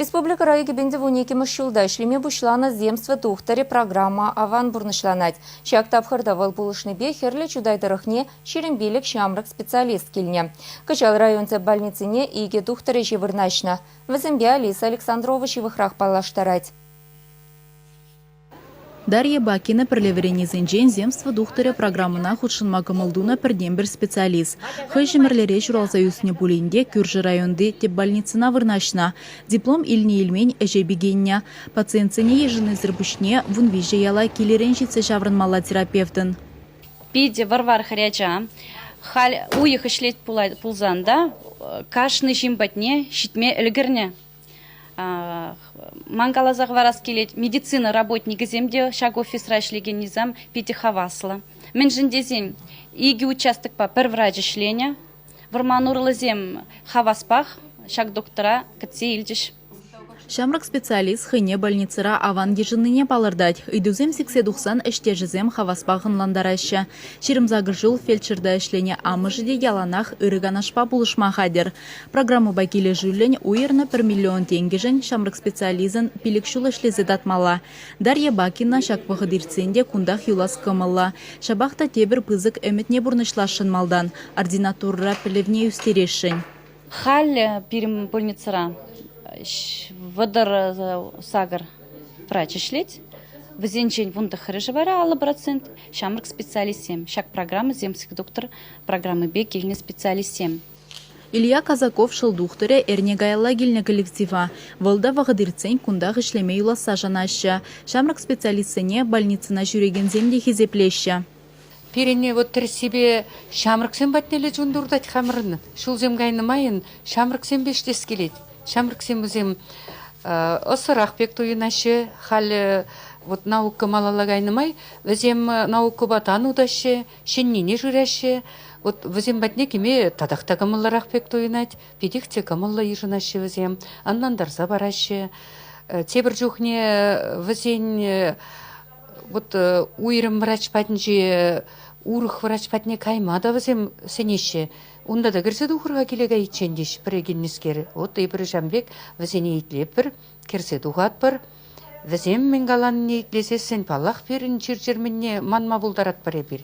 Республика райкӗпен тӑвун иккӗмӗш ҫулта ӗҫлеме пуҫланӑ «Земство тухтӑрӗ» программа аван пурнӑҫланать. Ҫак тапхӑрта вӑл пулӑшнипе Хӗрлӗ Чутай тӑрӑхне ҫирӗм пилӗк ҫамрӑк специалист килнӗ. Кӑҫал район тӗп больницине икӗ тухтӑр ӗҫӗ вырнаҫнӑ. Вӗсемпе Алиса Александрова ҫывӑхрах паллаштарать. Дарья Бакина пӗрле вӗреннисенчен «Земство тухтӑрӗ» программӑна хутшӑнма кӑмӑл тунӑ пӗртен-пӗр специалист. Хӑй Ҫӗмӗрлере ҫуралса ӳснӗ пулин те кӳршӗ районти тӗп больницӑна вырнаҫнӑ. Диплом илнӗ-илмен ӗҫе пикеннӗ. Пациентсене йышӑннисӗр пуҫне вун виҫӗ яла килӗрен ҫитсе ҫаврӑнмалла терапевтӑн. Питӗ вӑр-вар хӗрача. Халь уйӑх ӗҫлет пулсан та кашни ҫын патне ҫитме ӗлкӗрнӗ. Ман каласа хӑварас килет, медицина работникӗсем те ҫак офисра ӗҫлекен низам питӗ хаваслӑ. Мӗншӗн тесен икӗ участокпа пӗр врач ӗҫленӗ. Вӑрман урлисем хаваспах ҫак доктора кӗтсе илчӗҫ. Ҫамрӑк специалист хӑйне больницӑра аван йышӑннине палӑртать. Ыйтусем сиксе тухсан ӗҫтешӗсем хаваспах ӑнлантараҫҫӗ. Ҫирӗм сакӑр ҫул фельдшерта ӗҫленӗ амӑшӗ те яланах ырӑ канашпа пулӑшма хатӗр. Программӑпа килӗшӳллӗн уйӑрнӑ пӗр миллион тенкӗшӗн ҫамрӑк специалистӑн пилӗк ҫул ӗҫлесе татмалла. Дарья Бакина ҫак вӑхӑт иртсен те кунтах юлас кӑмӑллӑ. Ҫапах та тепӗр пысӑк ӗмӗтне пурнӑҫласшӑн малтан ординатурӑра пӗлӗвне ӳстересшӗн. Халӗ пирӗн больницӑра вӑтӑр сакӑр врач ӗҫлет. Вӗсенчен вун тӑххӑрӗшӗ вара аллӑ процент ҫамрӑк специалистсем. Ҫак программӑсем сиктоктор программипе килнӗ специалистсем. Илья Казаков шӑл тухтӑрӗ эрне каялла килнӗ коллектива. Вӑл та вӑхӑт иртсен кунтах ӗҫлеме юласса шанаҫҫӗ. Ҫамрӑк специалистсене больницӑна ҫӳрекенсем те хисеплеҫҫӗ. Пирӗнне вӑт тӗрӗссипе ҫамрӑксем патнелле чун туртать хамӑрӑн. Ҫулсем кайнӑ майӑн ҫамрӑксемпе ӗҫлес килет. Ҫамрӑксем вӗсем ӑсӑрах пек туйӑнаҫҫӗ. Халӗ вӑт наука малалла кайнӑ май вӗсем наукӑпа тан утаҫҫӗ, ҫӗннине шыраҫҫӗ. Вот вӗсем патне кӗме татах та кӑмӑллӑрах пек туйӑнать, питех те кӑмӑллӑ йышӑнаҫҫӗ вӗсем, ӑнлантарса параҫҫӗ. Тепӗр чухне вӗсен вот уйрӑм врач патӗнче урӑх врач патне кайма та вӗсем сӗнеҫҫӗ. Унта та кӗрсе тухӑр-ха киле кайиччен, теҫ пӗрекеннӗскер. Вот эпир ҫам пек вӗсене итлетпӗр, кӗрсе тухатпӑр. Вӗсем мӗн каланине итлесессӗн, паллах, пирӗн чир-чӗр мӗнне манма пултаратпӑр эпир.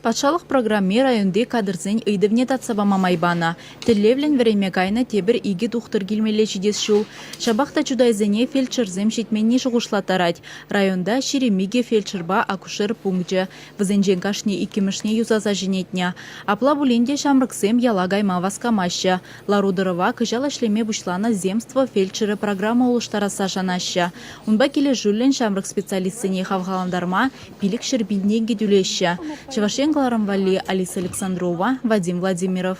Патшалӑх программи районти кадрсен ыйтӑвне татса пама май панӑ. Тӗллевлӗн вӗренме кайнӑ тепӗр икӗ тухтӑр килмелле ҫитес ҫул. Ҫапах та чутайсене фельдшерсем ҫитменни шухӑшлаттарать. Районта ҫирӗм икӗ фельдшерпа акушер пункчӗ. Вӗсенчен кашни иккӗмӗшне юсаса ҫӗнетнӗ. Апла пулин те ҫамрӑксем яла кайма васкамаҫҫӗ. Лару-тӑрӑва кӑҫал ӗҫлеме пуҫланӑ Земство фельдшерӗ программа улӑштарасса шанаҫҫӗ. Унпа килӗшӳллӗн ҫамрӑк специалистсене хавхалантарма пилӗкҫӗр пин тенкӗ тӳлеҫҫӗ, Чӑваш Ен кӑларӑм валли Алиса Александрова, Вадим Владимиров.